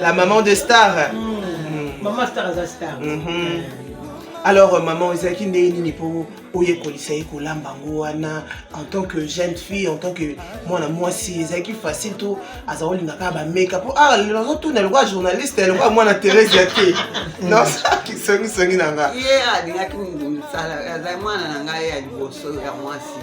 La maman de star. Mm. Maman star aza star. Mm-hmm. alors euh, maman ezalaki ndenge nini mpo oyekolisa ye kolamba yango wana en tant que jeune fille en tant que mwana mwasi ezalaki facile to aza kolinga kaka bameka mpo ah lelo azotuna lokola journaliste lokola mwana therese ya te non songisongi na nga azali mwana na ngai ya liboso ya mwasi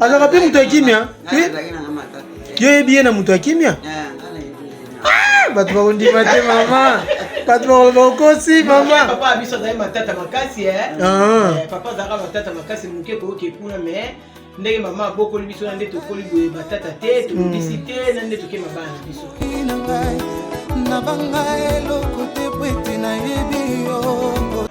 azalaka mpe moto ya kimya yo oyebi ye na moto ya kimya ah, bato bakondima te mama bato bakoloba okosi mama papa biso azali matata makasi eh? ah. eh, papa azalaka matata makasi moke koyoka ekuna mais ndenge mama abokoli biso na nde tokoli boye batata te tobongisi hmm. te na nde tokema bana na biso na banga eloko te po ete nayebi yo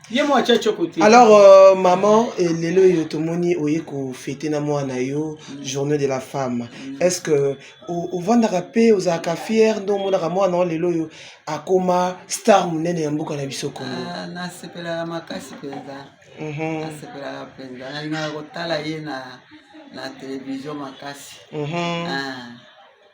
ye mwa atia tioko te alors euh, maman eh, lelo oyo tomoni oye kofete na mwana yo mm. journée de la femme mm. est ce que ovandaka mpe ozalaka fiere nde omonaka mwana o lelo oyo akoma star monene ya mboka na biso kongo ah, nasepelaka makasi mpenza mhm. nasepelaka mpenza nalingaka kotala ye na na televizio makasi mhm. ah.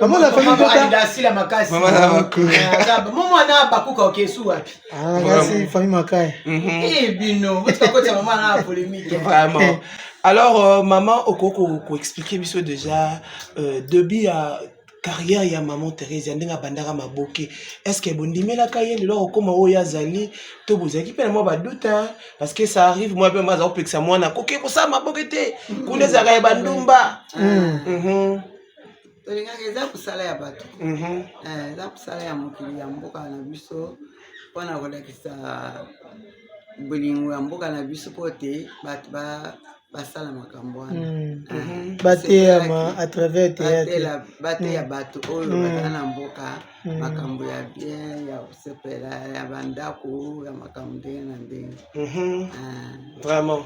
Maman la famille Kota. Aida Sila Makasi. Maman la Bakuka. Maman na Bakuka okesu wapi? Ah, kasi famille Makaya. Mhm. Eh bino, botika kota maman na polémique. Vraiment. Eh. Alors euh, maman okoko ko expliquer biso déjà euh, début ya carrière ya maman Therese ndenge abandaka maboke. Est-ce que bondimelaka ye lelo okoma oyo azali to bozalaki mpe na mwa badoute parce que ça arrive moi mpe maza kopekisa mwana koke kosala maboke te kuna ezalaka ya bandumba. Mm. Mm -hmm. tolingaka eza mosala ya bato mhm. eh, eza mosala ya mokili ya mboka na biso mpona kolakisa bolingo ya mboka na biso mpo te bato ba basala makambo wana mm, ah, mhm. bateyama à travers théâtre bateya mm. bato oyo mm. bazala na mboka hmm. makambo ya bien ya kosepela ya bandako ya makambo ndenge na ndenge mhm. ah, vraiment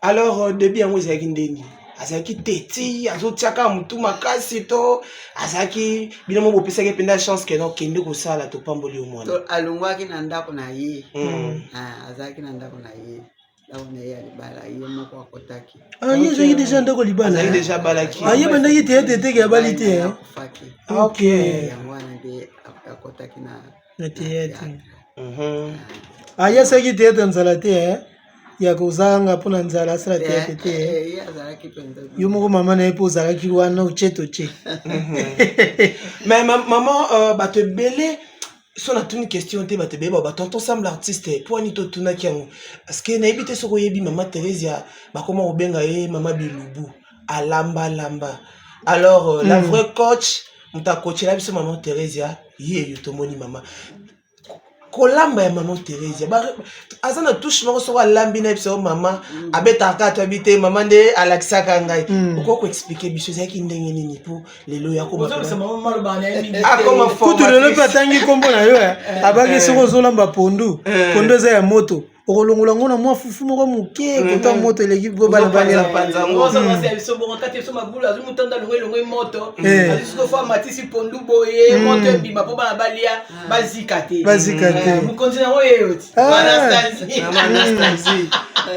alors euh, debi yango ezalaki ndenge azalaki teti azotiaka motu makasi to azalaki bino mo bopesaki mpenza chance ke non kende kosala topamboli yo mwana alongwaki na ndako na ye hmm. ah, azalaki na ndako na ye Ah, ye azalaki deja ndako libala aye bandaki te ete eteke ya bali te ok na teyatre aye asalaki teyatre ya nzala te eh? ya kozanga mpo na nzala asala teyatre te eh? Eh, yo moko mama na ye mpo ozalaki wana oche toche mais mama euh, bato ebele so natuni question te bato ebeba batonton sam l'artiste mpo ani totunaki yango parceke nayebi te soki oyebi mama theresia bakoma kobenga ye mama bilubu alambalamba alors euh, mm. la hmm. vraie coach moto akocela biso mama theresia yeyo tomoni mama kolamba ya mama theresia aza na touche moko soko alambi na biso mama mm. abetaka kaka toyebi te mama nde alakisaka ngai mm. okoki koexplike biso ezalaki ndenge nini mpo lelo yakutu ah, lelo mpe atangi nkombo na yo eh. eh. abaki eh. soki ozolamba pondu pondu eza ya moto okolongola ngo na mwa fufu moko moke kota moto eleki bobalabalela bazika te bazika te mokonzi yango yeyo ti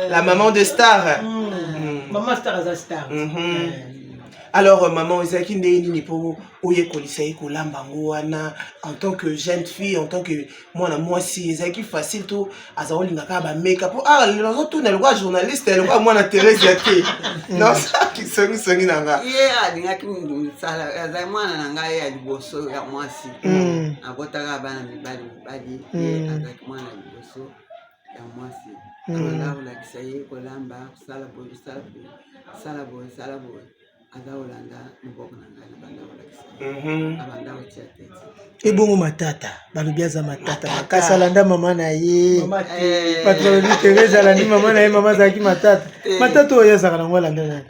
la maman de star mm. Mm. maman star aza star mm-hmm. alors euh, maman ezalaki ndenge nini mpo oyekolisa ye kolamba yango wana en tant que jeune fille en tant que mwana mwasi ezalaki facile to aza kolinga kaka bameka mpo ah lelo azotuna lokola journaliste lokola mwana theresia te nasalaki songisongi na nga ye alingaki mosala azali mwana na ngai ya liboso ya mwasi mm. abotaka bana mibali mibali mm. azalaki mwana ya liboso ya mwasi alala hmm. kolakisa ye kolamba kosala boye kosala boye sala boye sala boye aza kolanda moboko na ngai nabanda kolakisa mhm. abanda kotia tete ebongo matata balobi aza matata makasi alanda mama na ye eh. patolobi terese alandi mama na ye mama azalaki matata eh. matata oyo azalaka nango alanda nani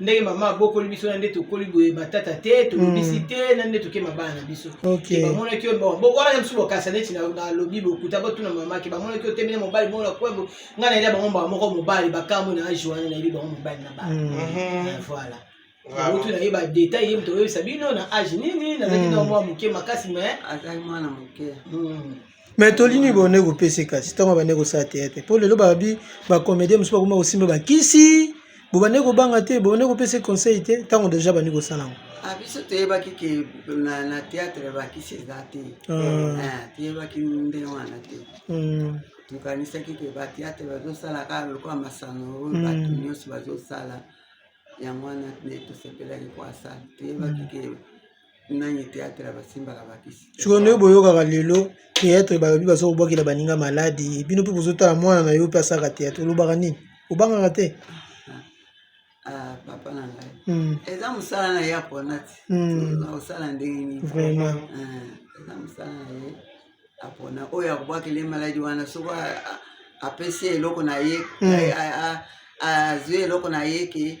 ndenge mama abokoli biso na nde tokoli boye batata te tolobisi hmm. te na nde tokema bana na biso bamonaki yo wana mosusu bokasa neti nalobi bokuta botuna mamaki bamonaki yo temene mobali bongo na kwembo ngai nayebi bango mbaa moko mobali bakambo na age wana nayebi bango mobali na bana hmm. mhm. ah, voilà kutu na ye badetail ye moto oyebisa bino na age nini nazalaki hmm. na mwa moke makasi mais azali mwana moke me toli nini bone kopesa kasi ntango abande kosala teatre mpo lelo babi bacomédien mosusu bakoma kosimba bakisi bobande kobanga te bobande kopesa conseil te ntango deja bandi kosala yango ah, biso toyebaki ke na teatre bakisi eza te ah. eh, toyebaki ndenge wana te hmm. tokanisaki ke bateatre bazosala kaka lokola masano oyo hmm. bato nyonso bazosala yango wana tosepelaki koasala toyebaki ke sikoyo nde boyokaka lelo teatre balobi baza kobwakela baninga maladi bino mpe bozotala mwana na yo mpe asaka teatre olobaka nini obangaka te ah, papa na ngai hmm. eza mosala na ye apona ti hmm. osala ndenge nini vraiment ah, eza mosala na ye apona oyo akobwakela ye maladi wana soko apesi eloko na ye hmm. azwi eloko na ye ke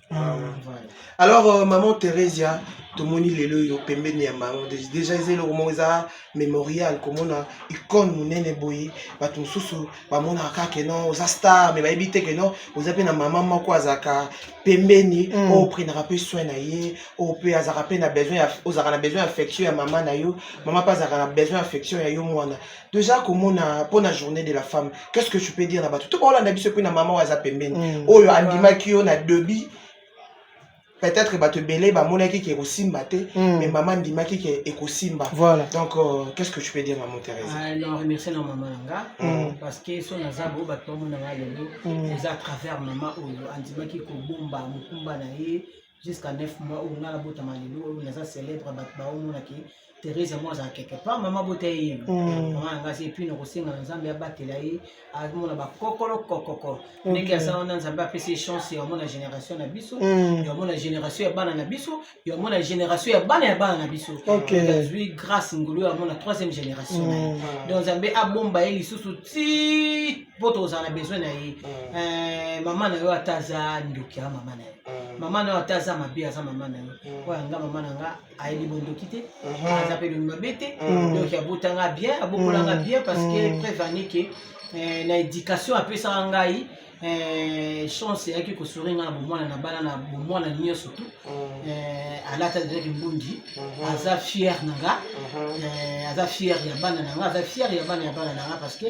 Ah. alors euh, maman theresia tomoni lelo oyo pembeni ya bango deja eza eloko moko eza mémorial komona icone monene boye bato mosusu bamonaka kaka ke non oza star me bayebi te ke non oza mpe na mama moko azalaka pembeni mm. oyo oprenaka mpe soin na ye oyo mpe azalaka mpe na besoin ozalaka na besoin ya affection ya mama na yo mama mpe azalaka na besoin ya affection ya yo mwana toza komona mpo na journée de la femme qu'est ce que tu peux dire na bato to baolanda biso mpe na mama oyo aza pembeni mm. oyo andimaki yo na debi peut-être bato ebele bamonaki ke ekosimba te mm. mais mama andimaki ke ekosimba voilà. donc euh, qu'est ce que tu peux dire maman thérèse ah, non remercie na mama na nga mm. parce que so naza bo bato bamona nga lelo mm. eza à travers mama oyo andimaki kobomba mokumba na ye jusqu'à 9 mois oyo nga nabotama lelo oyo naza célèbre bato baomona ke therese yango azala quelque part mama bota ye yema mm. mama yanga asi epuis nakosenga na nzambe abatela ye amona bakokolo kokoko ndenge aza wana nzambe apesi ye chance ya omona génération na biso mm. ya omona génération ya bana na biso ya omona génération ya bana ya bana na biso azwi grâce ngulu ya omona troisième génération na ye mm. donc nzambe abomba ye lisusu ti mpo tozala na besoin na ye mm. eh, mama na yo ata aza ndoki ya mama na yo mm. mama na yo ata aza mabe aza mama na yo mm. oyo yanga mama na nga ayebi bondoki te mm-hmm. aza mpe lomi mabe te donc abotanga bien abokolanga bien parce que preuve anike eh, na éducation apesaka ngai eh, chance eyaki kosori ngai na bomwana na bana na bomwana nyonso tu alati azalaki mbundi mm-hmm. aza fier na nga mm-hmm. aza fier ya bana na nga aza fier ya bana ya bana na nga parce que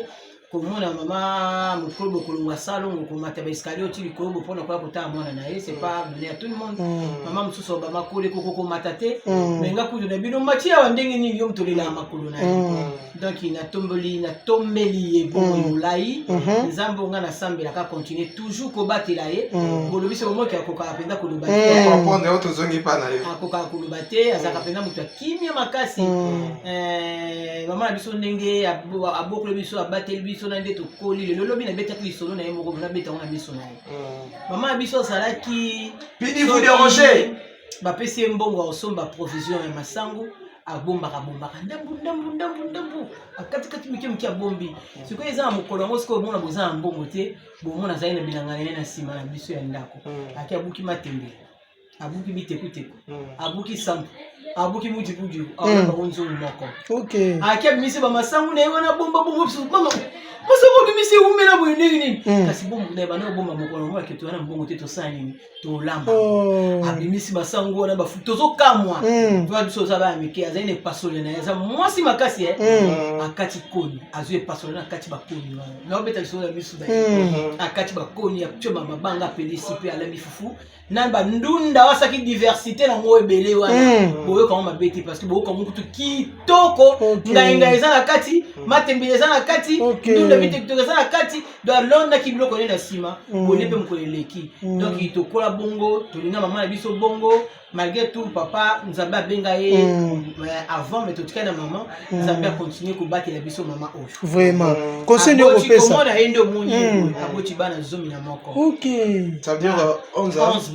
komona mama mokolo bokolongwa salongo komata baescalier oti likolo bopona koya kotala mwana na ye c'est pas donné à tout le monde mm. mama mosusu obama kole koko komata te mm. mais nga kutu na bino mati awa ndenge nini yo motolelaka makolo na ye mm. donc natomboli natombeli ye bongo molai mm-hmm. nzambe onga nasambelaka continue toujours kobatela ye bolobi se omoki akokaka mpenza koloba te akokaka koloba te azalaka mpenza moto kimia makasi mm. eh, mama na biso ndenge abokoli biso abateli biso na nde tokoli lelo lobi nabetaki lisolo na ye moko nabeta yango na miso na ye mm. mama na biso azalaki bapesi ye mbongo ya kosomba provision ya masangu abombaka bombaka ndambu ndambu ndambu ndambu akatikati mike mike abombi sikoyo eza na mokolo yango sikoyo omona boza na mbongo te bomona azali na bilanga na ye na nsima na biso ya ndako hmm. ake abuki matembele abuki bitekuteku hmm. abuki sambo abuki mujibujibu hmm. aona bango nzungu moko ayaki abimisi bamasangu na ye wana bomba bomba bisu mama masangu abimisi ewumela boye ndenge nini hmm. kasi bomba na ye banda kobomba mokolo moko aketoya na mbongo te tosala nini tolamba oh. abimisi masangu wana bafu tozokamwa toya biso oza baya mike azali na epasole na ye aza mwasi makasi ye eh? akati koni azwi epasole na akati bakoni wana naobeta lisolo ya misu na ye akati bakoni ya mabanga apelisi mpe alami fufu na bandunda wasaki diversité na ngo ebele wana hmm. boyokango mabe te parce que boyokango kutu kitoko ngainga eza na kati hmm. matembele eza na kati ndunda bitokitoko eza na kati do alondaki biloko ne na nsima hmm. boye mpe mokolo eleki donc tokola bongo tolinga mama na biso bongo malgré tout papa nzambe abenga ye avant mais totikali na mama nzambe akontinue kobatela biso mama oyo vraiment mm. conseil nde okopesakomona ye nde omoni mm. aboti bana zomi na moko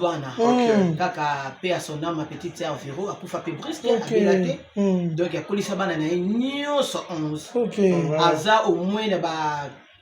bana mm. kaka pe ya son ame petite ya vero akufa pe briske abela te donc akolisa bana na ye nyonso 11 aza omoi na ba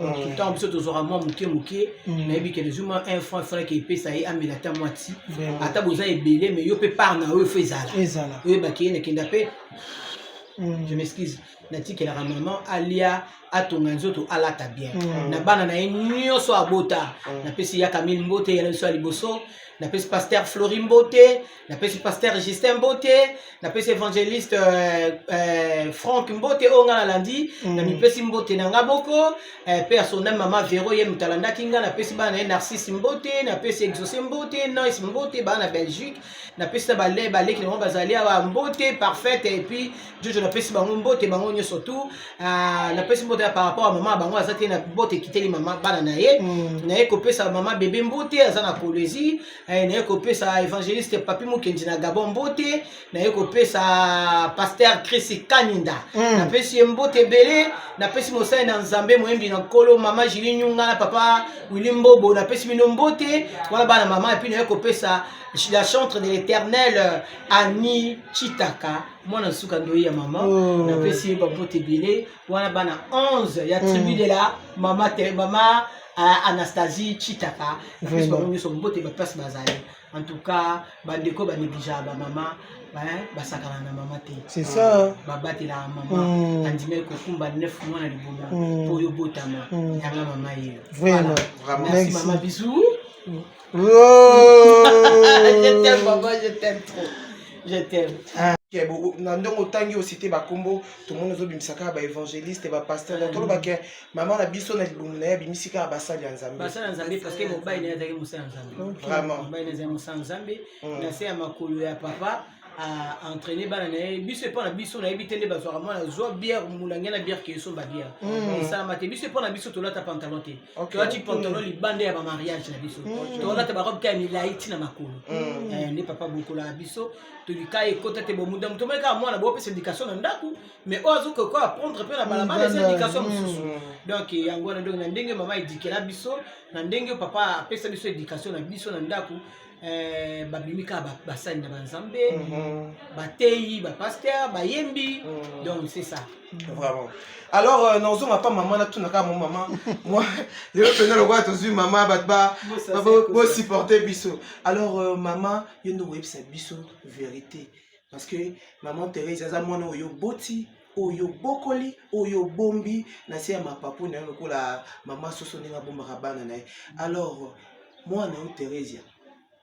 Mm. ntango biso tozwaka mwa moke moke mm. nayebi ke nazwi mwa un franc efalaki epesa ye amela ata mwa ti ata boza ebele mais yo mpe part na oyo fo ezala oyebaki ye nakenda mpe mm. je m'excuse natikelaka maman alia atonga nzoto alata bien na bana na ye nyonso abota napesi yaka mil mbote yala biso ya liboso napesi paster flori mbote napesi pasteur justin mbote napesi évangéliste euh, euh, frank mbote oyo ngai nalandi mm. namipesi mbote na ngai boko euh, mpe ya sonda mama vero ye moto alandaki ngai napesi bana na ye narcisse mbote napesi exauce mbote nice mbote bana na belgique napesi na bale baleki nango bazali awa mbote parfaite epuis jojo napesi bango mbote bango nyonso tu euh, napesi mbote par rapport ya mama bango aza te na mbote ekiteli mama bana na ye mm. naye kopesa mama bebe mbote aza na kolezi Eh, naye kopesa évangéliste papi mokendi na gabon mbote naye kopesa paster chris kaninda mm. napesi ye mbote ebele napesi mosali na nzambe moyembi na nkolo mama jili nyunga na papa wili mbobo napesi bino mbote wana bana mama epuis naye kopesa la chantre de l'éternel euh, ani chitaka mwana nsuka ndoyi ya mama oh. napesi ye bambote ebele wana bana 11 ya tribu mm. de la mama te mama uh, anastasie chitaka plus bango nyonso mbote baplace bazali en tout cas bandeko banegligea bamama basakana na mama te c'est ça babatelaka mama mm. andimaki kokumba 9 mwana liboma mpo mm. yo botama yanga mama yeyo vraiment merci mama bisou Oh. je t'aime maman, je t'aime trop. Je t'aime. Ah. na ndenge otangi osite bakombo tomoni ozobimisa kaka baévangéliste bapaster donc toloba ke mama na biso na libumu na ye abimisi kaka basali ya nzambebasali ya nzambe parceke mobali na ye azalaki mosala ya nzambe vraiment mobali na ye azali mosala ya nzambe na se ya makolo ya papa a entraîner bana na ye biso epa na biso nayebi te nde bazwaka mwana zwa bière molange na bière ke esomba bière mm. esalama te biso epa na biso tolata pantalon te tolati pantalon mm. libanda ya bamariage na biso mm. tolata barobe te ya milai ti na makolo eh, nde papa bokola na biso tolika ekota te bomuda moto omoni kaka mwana boopesa éducation na ndako mais oyo azoki ko apprendre mpe na balabala eza éducation mosusu donc yango wana donc na ndenge mama edikela biso na ndenge papa apesa biso éducation na biso na ndako eh, babimi kaka basali na banzambe mhm. bateyi bapaster bayembi mhm. donc c'est ça vraiment alors euh, nazonga pa mama natuna kaka mo mama moi lelo mpenza lokola tozwi mama bato bosupporte biso alors euh, mama yo nde oyebisa biso verité parce que maman Therese aza mwana oyo oboti oyo obokoli oyo obombi na se ya mapapu na yo lokola mama soso ndenge abombaka bana na ye alors mwana yo Theresia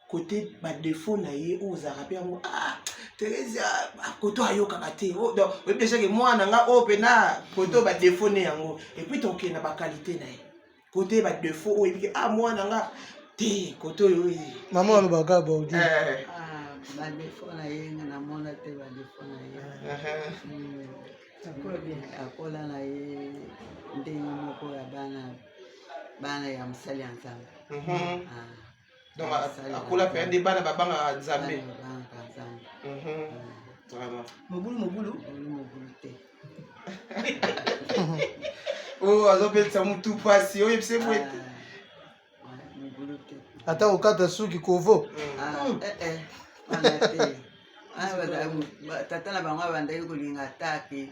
kote badefo na ye oyo ozalaka mpe yango ah, Theresia ah, koto ayokaka te oh, oyebi dejake mwana nga oyo oh, mpe na koto badefo ne yango epuis tokende na bakalite na ye kote ba defaut oyo ebiki ah mwana nga te kote oyo oyi mama alobaka baudi eh. ah, ba defaut na ye nga namona te ba defaut na ye hmm. akola na ye ndenge moko ya bana bana ya mosali ya nzambe mhm. ah. donc akola mpenza nde bana babangaka nzambe mobulu mobulu oyo oh, azobetisa motu mpasi oyo ebise boye te ah, ata kokata suki kovo ah, mm. eh, eh. Ah, tata na bango abandaki kolinga ata te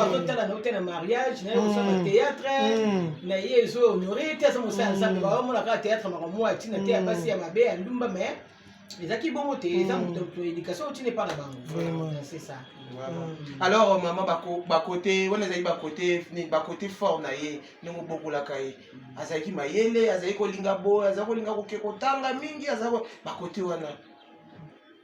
azotala na ote na mariage na yosala mm. théâtre mm. na ye ezo honore te aza mosala ya nzambe mm. baomona kaka théâtre maka mwa ntina te ya basi ya mabe ya ndumba mais ezalaki bongo te eza moto éducation otine epa na bango c'est ça Mm. alors euh, mama bakote wana ezali bakote bakote fort na ye ndenge obokolaka ye mm. azalaki mayele azali kolinga boye azali kolinga koke kotanga mingi aza bakote wana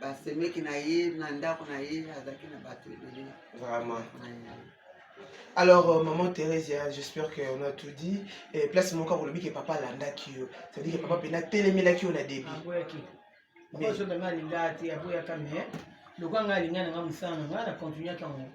basemeki na ye na ndako na ye azalaki na bato ebele vraiment alors euh, maman therese hein, j'espère que on a tout dit et place moko akolobi ke papa alandaki yo cetadire ke papa mpena atelemelaki yo na debi mais lokola ngai alinga na ngai mosala na ngai na continuaki yango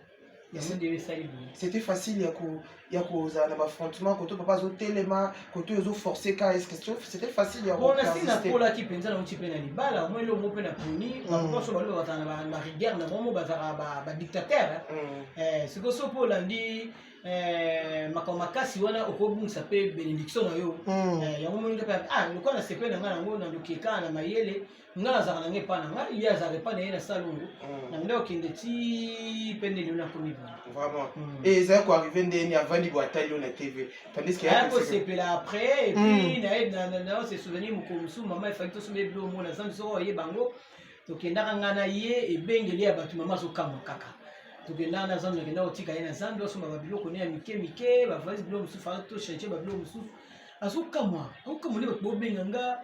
c'était facile ya ko ya kozala na bafrontement koto papa azotelema koto ezoforce ka eske c'était facile ya bona si nakolaki mpenza nauti mpe na libala omoi elongo mpe na poni bakoso mm. baloba bazala na bariguerre na bango bazalaka badictateur mm. eh, sikoyo so mpe olandi eh, makambo makasi wana okobungisa mpe benediction na yo mm. eh, yango moninga mpe ah, lokola na sepe na ngai nango na lokeka na mayele nga nazalaka nange epa na ngai ye azalaka epa na ye na salongo mm. na ndako kende ti mpe ndenge oyo nakomi vraiment mm. e ezali koarrive ndeni avandi bo atali yo na tv tandiskeakosepela après epuis mm. naye se souvenir mokolo mosusu mama efaki tosomba ebilo omona zambi soko oye bango tokendaka ngai na ye ebengeli ya bato mama azokamwa kaka tokendaka na zambi nakendaka kotika ye na zambi osomba babiloko ne ya mike mike bavalise biloko mosusu faa to change babiloko mosusu azokamwa akokamwa nde bato bobenga nga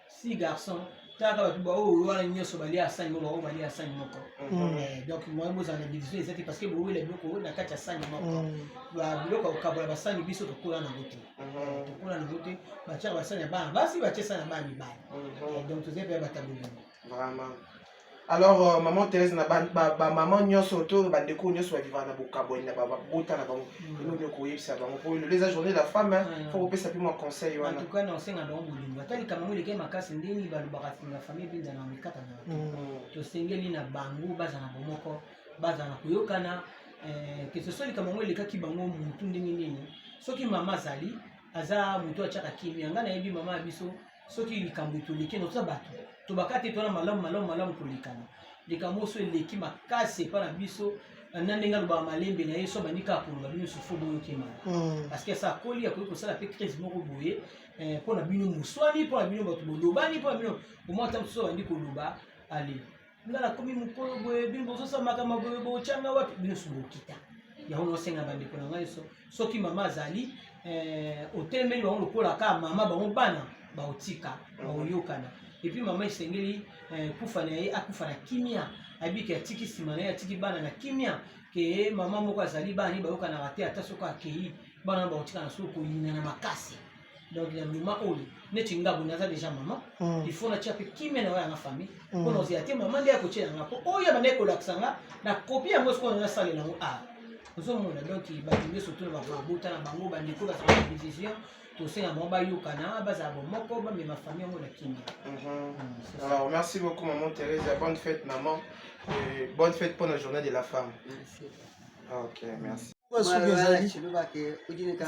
si garçon taka bato baoyo wana nyonso balia sani moko baoyo balia sani moko mm. eh, donc moyen bozala na division eza te parce que bowela biloko oyo na kati ya sani moko mm. biloko ya kokabola basani biso tokola nango te mm-hmm. tokola nango te batyaka basani ya bana basi batye sani ya bana mibali mm-hmm. eh, donc tozali mpe ya bataboli yango alors euh, maman Thérèse na ba, ba, ba maman nyonso to ba ndeko nyonso ba vivre na bokaboni na ba bota na bango ino nyo koyebisa bango po le les journée la femme hein, faut ko pesa pe moi conseil wana en tout cas na osenga na bolingo ata likambo ngo leke makasi ndeni ba lobaka na famille binda na mikata na mm. to sengeli na bango baza na bomoko baza na koyokana eh, que ce soit likambo ngo lekaki bango mutu ndenge nini soki mama azali aza mutu atiaka kimia ngai nayebi mama ya biso soki likambo toleki na toza bato tobaka te tona malamu malamu malamu kolekana likambo oso eleki makasi epai na biso na ndenge alobaka malembe na ye so abandi kaka koloba bino susu boyoki mala hmm. parce que asa akoli akoki kosala mpe crise moko boye eh, mpo na bino moswani mpo na bino bato bolobani mpo na bino omwa ata mosusu abandi koloba ale nga nakomi mokolo boye bino bozosala makambo boye botyanga wapi bino subokita yango nasenga bandeko na ngai soki mama azali eh, otelemeli bango lokola kaka mama bango bana baotika baoyokana epuis mama esengeli eh, kufa na ye akufa na kimia abiki atiki nsima na ye atiki bana na kimia ke mama moko azali bana ye bayokanaka te ata soki akei bana baotikana soki koyinana makasi donc na moment oyo neti nga boye naza déjà maman hmm. il faut natia mpe kimia na oya na famille hmm. mpo naozela te maman nde akotyela nga mpo oyo banda ekolakisa nga na kopi yango sikoyo nasalela yango a ah, ozomona donc bato nde surtout na babota na bango bandeko bazala division tosenga bango bayokana bazala bomoko bamema famille yango na kimia mhm. hmm, alors merci beaucoup maman therese bonne fête maman bonne fête mpo na journée de la femme ah, ok merci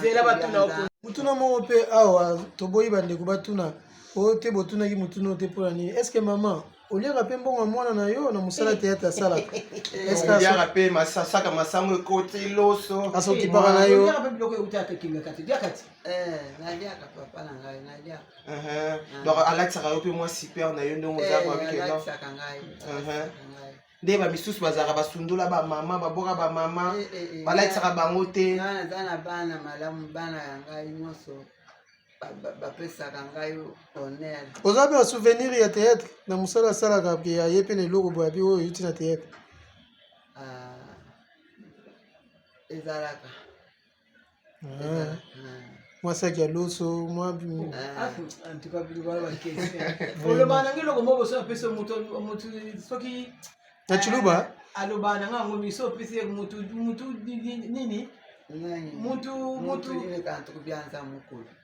zela batuna motuna moko mpe awa toboyi bandeko batuna oyo te botunaki motuna oyo te mpo na nini estce mama oliaka mpe mbongo ya mwana na yo na mosala eh. teyate asalaka oliaka eh, mpe masasaka masango ekoti loso asokipaka na yo donc alatisaka yo mpe mwa super na yo ndenge oza koabikela nde bamisusu bazalaka basundola bamama baboka bamama eh, eh, eh, balakisaka bango te naza na bana malamu bana ya ngai nyonso bapesaka ngai honneur oza mpe na souvenir ya théâtre na mosala asalaka mpe aye mpe na eloko boyabi oyo euti na théâtre ah, ezalaka Ah. mwasaki ya loso mwa ah. na ciluba eh, aloba na nga yango miso opesi ye mutu mutu nini mutu mutu byanza mokolo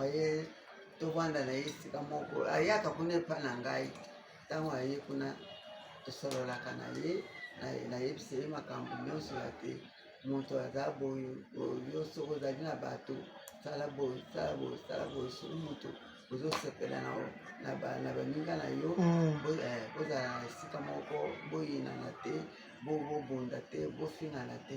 oye tovanda na ye esika moko ayaka kuna epa na ngai ntango aye kuna tosololaka na ye nayebisa ye makambo nyonso ya te moto aza boye yo soki ozali na bato sala boye sala boye sala boye soki moto ozosepela na baninga na yo mm. eh, bozala na esika moko boyinana te bobunda te bofingana te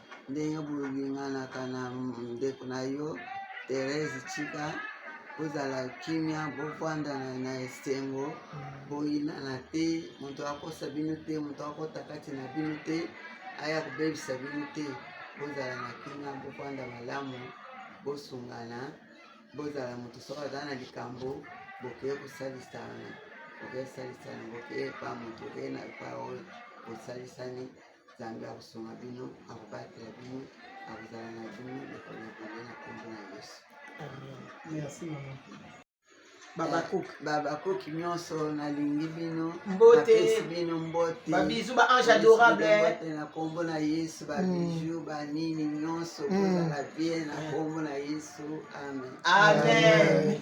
ndenge bolinganaka na ndeko na yo Therese Chika bozala kimia bofanda na esengo boyinana te moto akosa bino te moto akota kati na bino te aya kobebisa bino te bozala na kimia bofanda malamu bosungana bozala moto soki aza na likambo bokeye kosalisana bokeye salisana bokeye pa moto okeye na pa oyo bosalisani nzambe akosunga bino akobatela bino akozala na bino lokolo na bino na kombo na yesu merci mama babakuki babakuki nyonso nalingi bino mbotepesi bino mbote babizu ba ange adorable na kombo na yesu babiju mm. banini nyonso mm. kozala bien na kombo na yesu amen amen